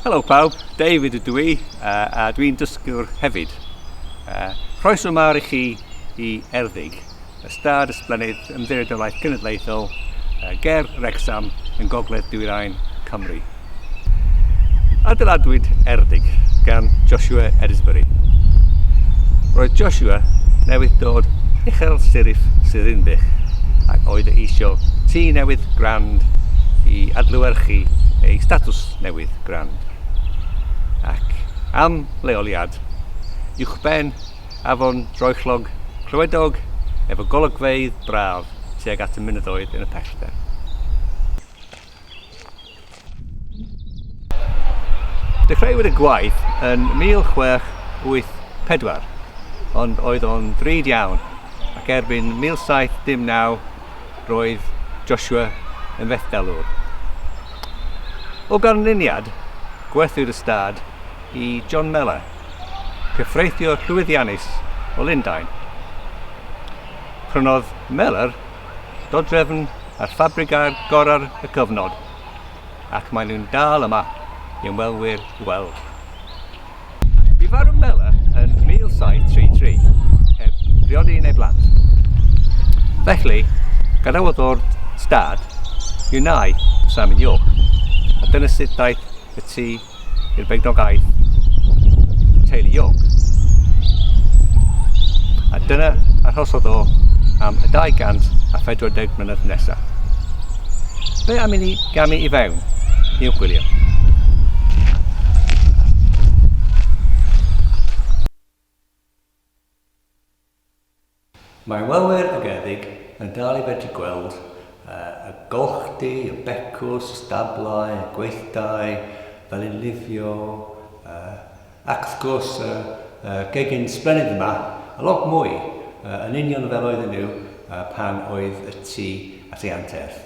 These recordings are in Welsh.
Helo pawb, David ydw i uh, a dwi'n dysgwr hefyd. Uh, croeso mawr i chi i Erddig, ystad ysblennydd ymddiriedolaeth genedlaethol uh, ger Rexham yn gogledd dwyrain Cymru. Adeiladwyd Erddig gan Joshua Edisbury. Roedd Joshua newydd dod uchel sirif Sirinbych ac oedd e eisiau tŷ newydd Grand i adlewyrchu ei statws newydd Grand ac am leoliad uwchben afon droellog clywedog efo golygfeydd braf tuag at y mynyddoedd yn y pellter. Dechreuwyd y gwaith yn 1684, ond oedd o'n ddrud iawn, ac erbyn 1719 roedd Joshua yn fethdalwr. O ganlyniad, gwerthwyd y stad i John Mellor, cyffreithiwr llwyddiannus o Lundain. Prynodd Mellor dodrefn a'r ffabrigau gorau'r y cyfnod, ac maen nhw'n dal yma i ymwelwyr i weld. Bu farw Mela yn 1733, heb briodi neu blant. Felly, gadawodd o'r stad i wneud Simon York, a dyna sut daeth y tŷ i'r beidrogaeth teulu York. A dyna arhosodd o am y 240 mlynedd nesaf. Be am i ni gamu i fewn i'w gwylio? Mae ymwelwyr ymgyredig yn dal i fedru gweld y golchdy, y becws, y stablau, y gweithdai, fel yn lifio, ac wrth gwrs, y gegin sblennydd yma, a lot mwy, yn union fel oedden nhw pan oedd y tu at ei anterth.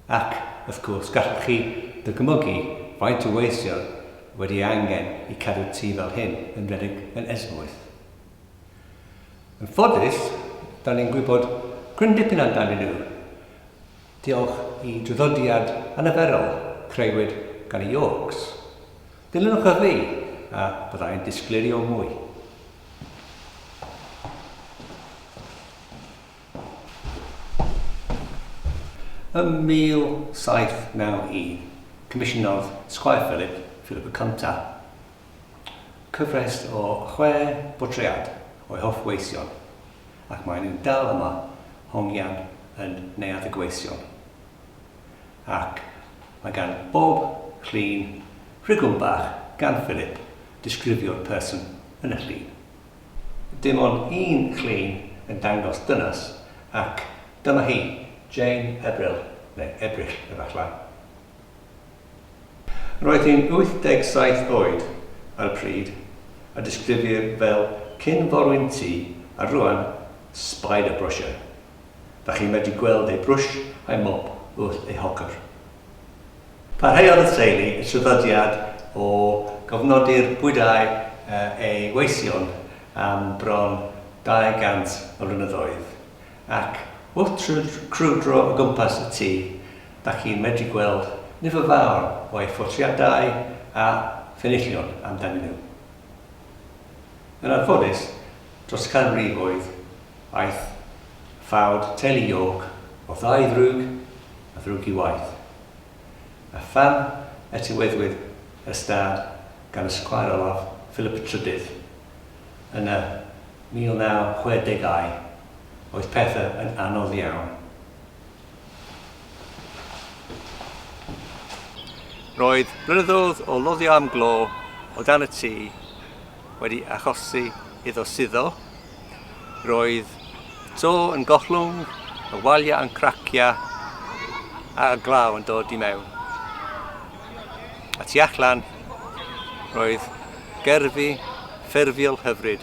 Ac, wrth gwrs, gallwch chi ddycmygu faint o weithion wedi ei angen i cadw tŷ fel hyn yn redeg yn esmwyth. Yn ffodus, dan ni'n gwybod cryn dipyn amdanyn nhw, diolch i draddodiad anarferol creuwyd gan y Yorks. Dilynwch y fi, a bydda i'n disgleirio mwy. Ym 1791, comisiynodd Squire Philip, Philip y Cyntaf, cyfres o chwe bortread o'i hoff weision, ac maen nhw'n dal yma, hongian yn Neuadd y Gweision. Ac mae gan bob llun rhigwm bach gan Philip disgrifio'r person yn y llun. Dim ond un llun yn dangos dynas ac dyma hi, Jane Ebrill, neu Ebrill efallai. Roedd hi'n 87 oed ar y pryd, a disgrifir fel cyn-forwyn-tŷ a rŵan spider-brusher. Dach chi'n medru gweld ei brwsh a'i mop wrth ei hogr. Parhaodd y teulu y traddodiad o gofnodi'r bwydau eu weision am bron 200 o flynyddoedd, ac wrth crwydro o gwmpas y tŷ, dach chi'n medru gweld nifer fawr o ei phortreadau a phenillion amdanyn nhw. Yn anffodus, Dros ganrifoedd, aeth ffawd Teli York o ddau ddrwg a ddrwg i waith. A pham etyweddwyd y stad gan y Sgwâr Olaf Philip y Trydydd yn y 1960au, oedd pethau yn anodd iawn. Roedd blynyddoedd o loddio am glo o dan y tŷ wedi achosi iddo suddo. Roedd to yn gollwng, y waliau yn cracio a glaw yn dod i mewn. A tu allan, roedd gerfi ffurfiol hyfryd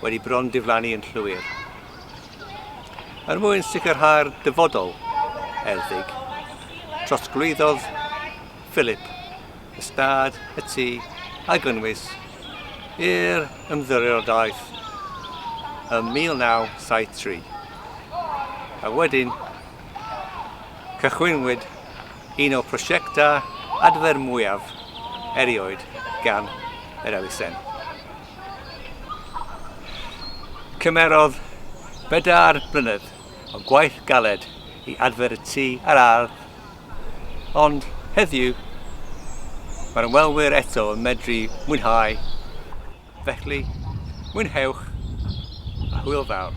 wedi bron diflannu yn llwyr. Er mwyn sicrhau'r dyfodol erddig, trosglwyddodd Philip ystâd y tŷ a gynnwys i'r ymddiriodaeth ym 1973, a wedyn cychwynwyd un o prosiectau adfer mwyaf erioed gan yr elusen. Cymerodd bedair blynedd o gwaith galed i adfer y tŷ a'r ardd, ond heddiw mae'r ymwelwyr eto yn medru mwynhau, felly mwynhewch a hwyl fawr!